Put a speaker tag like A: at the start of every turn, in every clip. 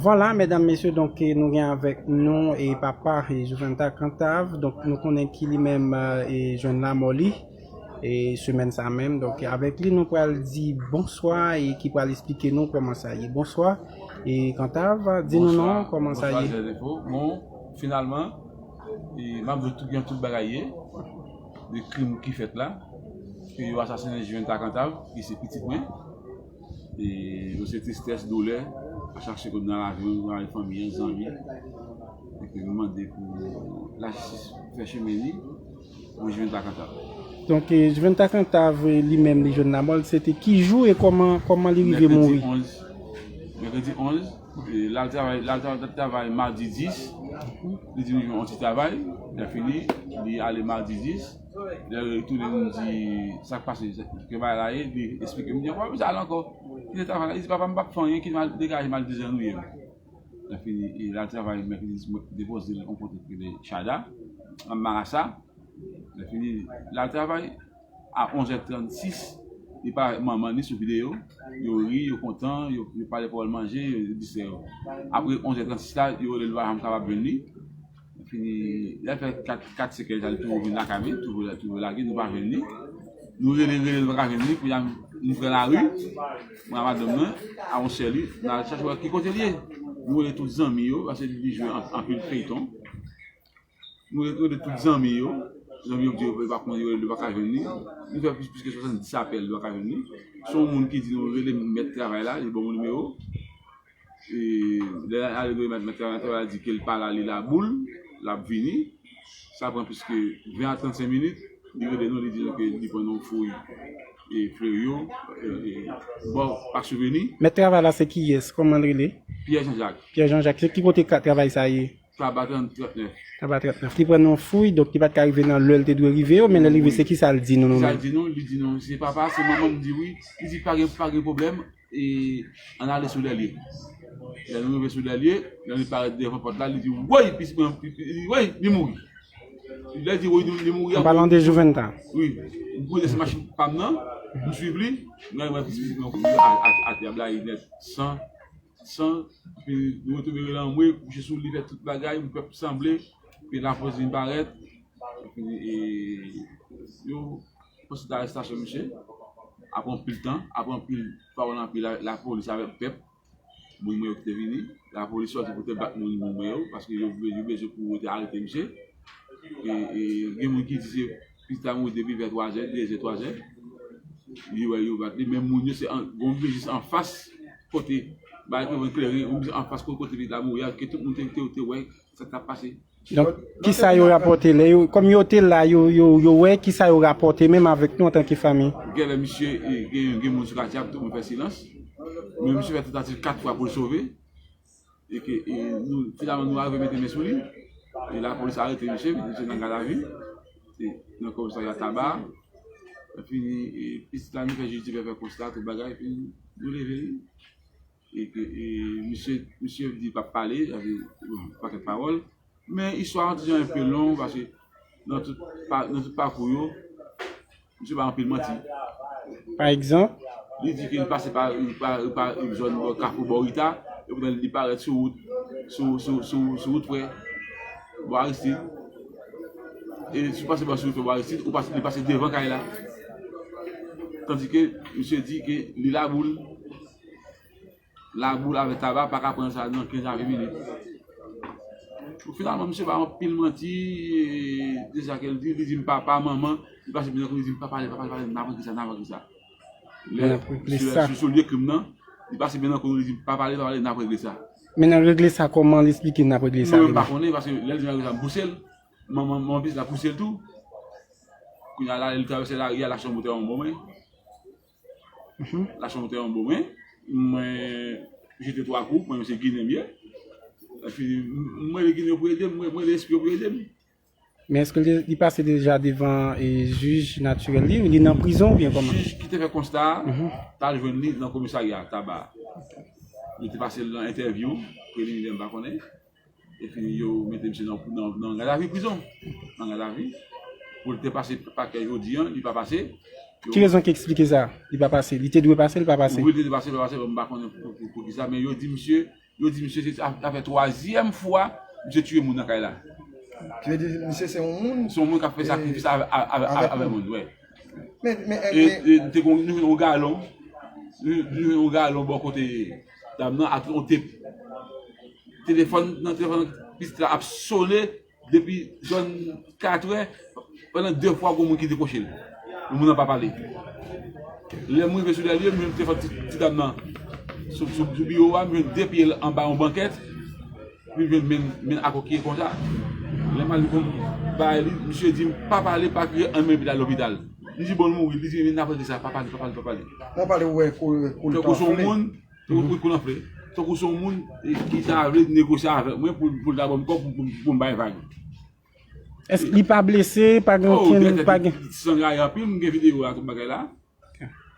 A: Vwala medam mesye donk nou gen avèk nou e papa e Juventha Cantave donk nou konnen ki li menm e jwenn lanmò li e semèn sa menm donk avèk li nou pral di bonswa e ki pral esplike nou kòman sa ye bonswa e Cantave di nou non kòman sa ye. Bonswa Jèzifo bon
B: finalman e map di tout jan tout bagay ye de krim ki fèt la ke yo asasinen Juventha Cantave ki se pitit mwen. e yo se tristès, doulè, a chache kote nan lavi yo avèk fanmi an, zanmi e ke nou mande pou lajistis fè chemen li pou Juventa Cantave. Donk
A: Juventa Cantave li menm li jwenn lamòl se te ki jou e kòman li rive mouri?
B: Mèkredi 11, mèkredi 11 lal travay, lal travay madi 10 li di li jwenn yon ti travay, lè fini li ale madi 10. Lè yo retounen vin di sa k pase, ke bagay la ye, li esplike. M di yo, pa bezwen al ankò. Kite travay la. Li di, papa, m pa p fè anyen. Kite m degaje m al dezannwiye m. Lè fini, l al travay mèkredi di m depoze l yon kote ki rele Chada, nan Marasa. Lè fini, l al travay. A onzè transis, li pale avèk manman li sou videyo. Yo ri, yo kontan, yo pale pawòl manje, yo distrè yo. Apre onzè transis la, yo rele l, yo pa janm kapab jwenn li. Epi lè l fè 4 sèkèy sa li toujou vin lakay mwen, toujou lage nou pa jwenn li. Nou rele rele nou pa ka jwenn li, kounye a nou pran lari, mwen ak madanm mwen, ak yon sè li, nou al chache wè ki kote li ye. Nou rele tout zanmi yo, paske li vin jwe anpil feyton. Nou rele tout zanmi yo, zanmi yo di yo pa konnen yo pa ka jwenn li. Nou fè plis ke 70 apèl nou pa ka jwenn li. Si yon moun ki di nou rele mèt travay la, li ban nou nimewo. Lè Alegory Mèt Mèt 41 a di ke l pa la li la boule, l ap vini, sa pran plis ke 20 a 35 minit, li rele nou li di nou ke li pran yon fouy Fleuryon, bò Pak Souveni. Mèt travay la se
A: kiyès? Kòman l rele? Pyè Jan Jak. Pyè
B: Jan Jak. Se ki kote
A: travay sa ye?
B: Taba 39. Taba 39. Li
A: pran nou yon fouy, donk li pa t ka rive nan lè l te dwe rive yo, men lè l rive se kisa l di nou nou menm? Kisa l di nou? Li di nou
B: se papa, se manman m di wi. Li di pa gen pwoblèm, E an n ale sou dèlye. Lè nou rive sou dèlye, lè li parèt devan pòt la, li di woy pitit mwen woy li mouri. Lè li di woy li mouri an. An palan de Jouventa.
A: Wi. M kouri
B: dèsyè machin pa m nan, m swiv li, m rive wè pitit mwen kouri atè a blayi nèt, san, san, epi nou retouve rele anmwe, kouche sou li fè tout bagay, m pèp sanble, epi Lafòs vin parèt, epi yo. Pou sit arestasyon misye, apre anpil tan, apre anpil pawòl anpi lapolis avèk pèp, moun mwen yo ki te vini, lapolis sòti pou te bat moun moun mwen yo, paske yo bezwen pou yo te arete misye, e gen moun ki di se pitit la mouri depi vè twazè, dezè, twazè, li wè yo bat li, men moun yo se yon bgy jis anfas kote, bay te vin klere, yon bgy anfas kote pitit la mouri a, ke tout moun te wè. Sak tap pase? Donk, kisa
A: yo rapòte lè yo, kòm yo te la, yo, yo, yo wè, kisa yo rapòte menm avèk nou antanke fanmi? Genlè misye
B: gen gen moun sou katye a pou tout moun fè silans. Men misye fè tantativ 4 fwa poul sove e ke e nou finalman nou arive mete men sou li e lapolis arete misye, mete misye nan gadavi e nan komisarya taba a. Epi e pitit la vin fè jij di fè fè konsta tout bagay epi nou leve li. Misye di pap pale, pakèt pawòl. Men istwa an ti jan enpe long paske nan tout pakou yo, misye bay anpil manti. Pa
A: egzanp? Li di ke li pase
B: pa yon zòn nan kafou Bòrita, epoutan li parèt sou wout, sou wout prè Bò Aristid. E si w pase sou wout prè Bò Aristid, ou pase devan kay la. Tandike misye di ke li laboul, Laboul avè taba paka pran sa nan 15 a 20 minit. Pou finalman misye bay anpil manti de sa ke l di, li di m papa, manman, li pase plizyè kou li di m papa, papa, papa, nan pran ki sa, nan pran ki sa. Lè misye sou lye krim nan, li pase plizyè kou li di m papa, papa, papa, nan pran ki sa. Men nan regle sa
A: kòman li esplike nan regle sa. Mwen pa konnen, paske lè
B: l di nan regle sa m pouse l, manman m anplis la pouse l tou. Kounye a la lè li travèse lari a, l ap chan moutè an m bon men. La chanm te anbo men mwen jete 3 kou mwen se ginen m ye epi m mande ginen yo pou ede m mwen mande espri yo pou ede m. Men eske
A: li pase deja devan jij natirèl li ou li nan prizon oubyen kòman? Jij ki te fè konsta a
B: t al jwenn li nan komisarya Taba. Li te pase l nan entèvyou, preliminè m pa konnen. Epi yo mete misye nan gadavi prizon. Nan gadavi. Pou l te pase pakè jodi an, li pa pase. Ki rezon ki
A: eksplike sa? Li pa pase. Li
B: te dwe pase, li
A: pa
B: pase.
A: Wi,
B: li te dwe pase,
A: li pa
B: pase.
A: Bon, m
B: pa
A: konnen
B: pou ki
A: sa.
B: Men
A: yo
B: di
A: misye,
B: yo di misye se ta fè twazyèm fwa misye tiye moun nan kay la. Ki vle di
C: misye se yon moun? Se yon moun k ap fè sakrifis
B: avèk moun, wi. E
C: te
B: gen yon galon, yon galon bò kote. Dam nan ak yon tep. Telefòn nan telefòn pitit la ap sone depi zòn 4 è, pandan 2 fwa gon moun ki dekwoche l. Men moun nan pa pale. Lè m rive sou lè l yo, m jwenn telefòn ti dam nan sou biwo a, m jwenn 2 pye l anba yon bankèt. Rive menm men a kokiye konsa. Lè m al pou m bay li, misye di m pa pale, pa kriye anyen epi l al lopital. M di bon l mouri, li di men apre kisa, pa pale, pa pale, pa pale. Mwen pale ou wè
C: kou l
B: ta anfle. Wi kou l anfle. Tankou se yon moun ki ta vle negosye avèk mwen pou l ta ban m kòb pou m bay vag.
A: Èske li pa blese, pa gen okenn, pa gen. San gaye anpil, m
B: gen videyo a tout bagay la.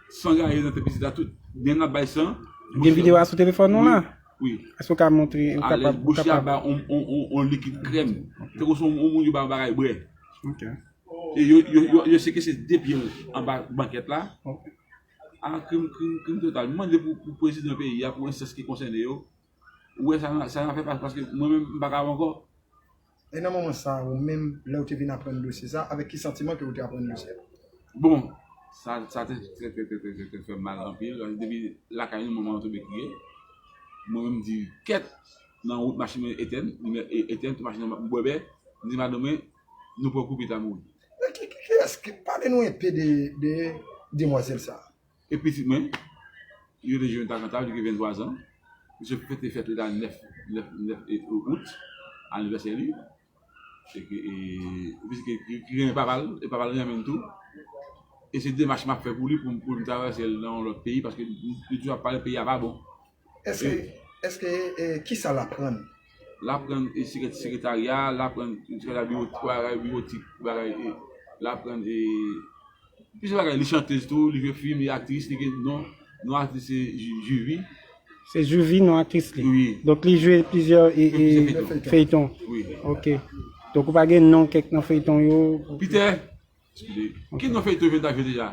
B: San gaye nan tèt pitit la tout. Gen nap bay san. Gen video a sou
A: telefòn ou la? Wi. Èske ou ka
B: montre?
A: Alèz bouch la ba
B: on likid krèm. Tankou son on moun yo ba on bagay bwè.
A: Ok. E
B: yo sekese de pye l anba bankèt la. Ok. A krim krim krim total. M mande pou prezidan peyi a pou enstans ki konsène yo. Ou wè sa nan fè paske mwen menm m pa kab ankò. E nan
C: moman sa a ou menm, lè ou te vin aprann dosye sa a, avèk ki santiman ke ou te aprann dosye a? Bon,
B: sa sa te trè trè trè trè trè fèm mal anpil, paske depi lakay nou manman tonbe kriye, mwen menm m di kèt nan wout machin mwen etèn, limyè etèn tout machin nan m bwè bè, m di madanm mwen nou pran kou pita mouri. Kiyès,
C: pale nou enpe de demwazèl sa a. E pitit mwen,
B: li rele Jonathan Cantal, li gen 23 zan. Misye fete fèt li la 9 Out, anivèsè li. Se ke, li se ki renmen papa l, e papa l renmen l tou. E se demach m ap fè pou li, pou m travèse l nan yon lòt peyi, paske li toujou ap pale peyi a pa bon.
C: Eske kisa l aprann? L aprann
B: sekretarya, l aprann bagay biwotik, l aprann plizyè bagay. Li chantez tou, li jwe fim, li aktris, li gen non. Non aktris se Juvi. Se Juvi
A: non aktris li? Wi. Donk li jwe
B: plizyè
A: feyton? Wi. Ok. Donk ou pa gen non kèk nan feyton yo? Piter.
B: Ki non feyton eventa jwe deja.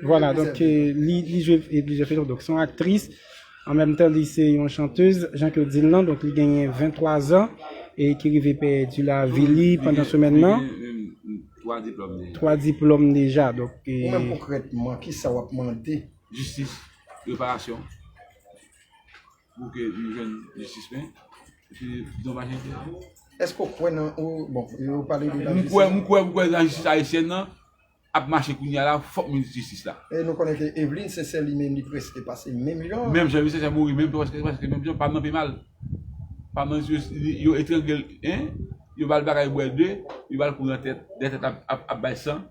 C: Vwala
A: donk li jwe plizyè feyton donk se yon aktris an menm tan li se yon chantez jan ke yo di l lan donk li genyen 23 zan e ki rive pèdi lavi li pandan semèn nan. Li genyen menm 3 diplòm deja. 3 diplòm deja donk. Ou menm konkrètman
C: kisa w ap mande? Jistis,
B: reparasyon. Pou ke nou jwenn jistis men. E pi donmaj entère.
C: Eske ou kwè nan ou bon yo pale de lajistis. Mwen kwè mwen kwè lajistis
B: ayisyèn nan ap mache kounye a la fòk minis jistis la. E nou konnen ke Evlin
C: Sensè li menm li preske pase menm jan. Menm jan Evlin Sensè mouri menm
B: preske preske menm jan pam nan pi mal. Pam nan yo etrangle l 1 yo ba l bagay bwè 2 yo ba l kou nan tèt 2 tèt ap bay san.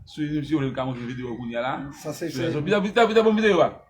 B: Sou li menm si yo vle m ka montre videyo kounye a la. Sa se se. Vite vite bon videyo a.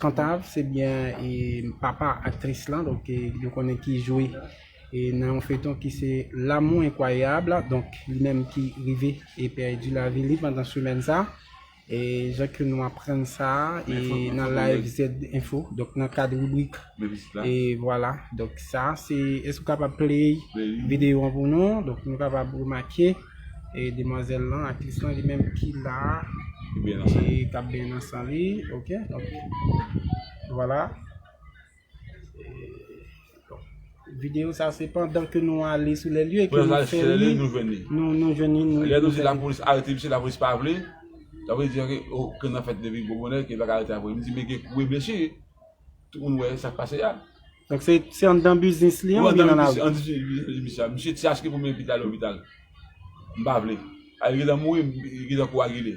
A: Kantav se byen papa aktris lan donk nou konnen ki jwe nan yon feyton ki se L'amour incroyable donk li menm ki rive pèdi lavi li pandan semèn sa jan ke nou aprann sa nan live ZenInfo donk nan kad ribrik e vwala donk sa se èske ou kapab play videyo an pou nou donk nou kapab remake. e demwazel lan aktris lan li menm ki la e kap byen nan san li ok donk vwala videyo sa se pandan ke nou ale sou le lye ke nou fè li nou veni nou lè nou di la polis arete
B: misye la polis pa vle sa vle di ke nan fèt depi gwo bonè ke yo pa ka arete la polis mwen di men gen kou e blesi Tout moun wè sak pase ya. Donk se
A: anndan biznis li an oubyen nan lari? Wi anndan biznis li misye ap. Misye ti achte pou mwen
B: epi li ale lopital. M pa vle. A li gentan mouri, li gentan kowagile.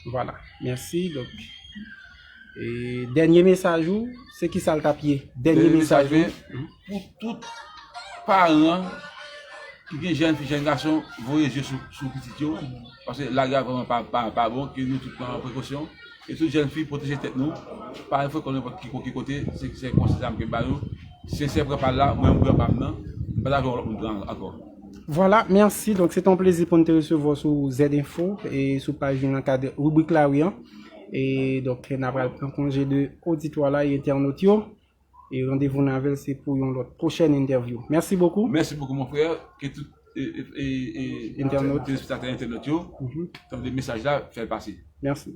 A: Vwala. Mèsi. Donk e dènye mesaj ou se kisa l t ap ye? Dènye mesaj mwen pou
B: tout paran ki gen jèn fi, jèn gason voye je sou pitit yo paske lari a vrèman pa bon ke nou tout pran prekosyon. E tout jèn fi pwoteje tèt nou pa al frekon nenpòt ki kote se konsèy sa mke bayo sinsè pran pal la mwen mpran pam nan mpa ta vle wè lòt moun pran ankò. Vwala,
A: mèsi. Donk se te yon plezi pou n te resevwa w sou ZinfO e sou paj nou nan kad ribrik la ri an. E donk n apral pran konje de oditwa la e entènot yo. E randevou n avè l se pou yon lòt pwochèn entèvyou. Mèsi bokou. Mèsi bokou mon frè.
B: Ke tout entènot, telespektatè entènot yo tande mesaj la, fè l pase. Mèsi.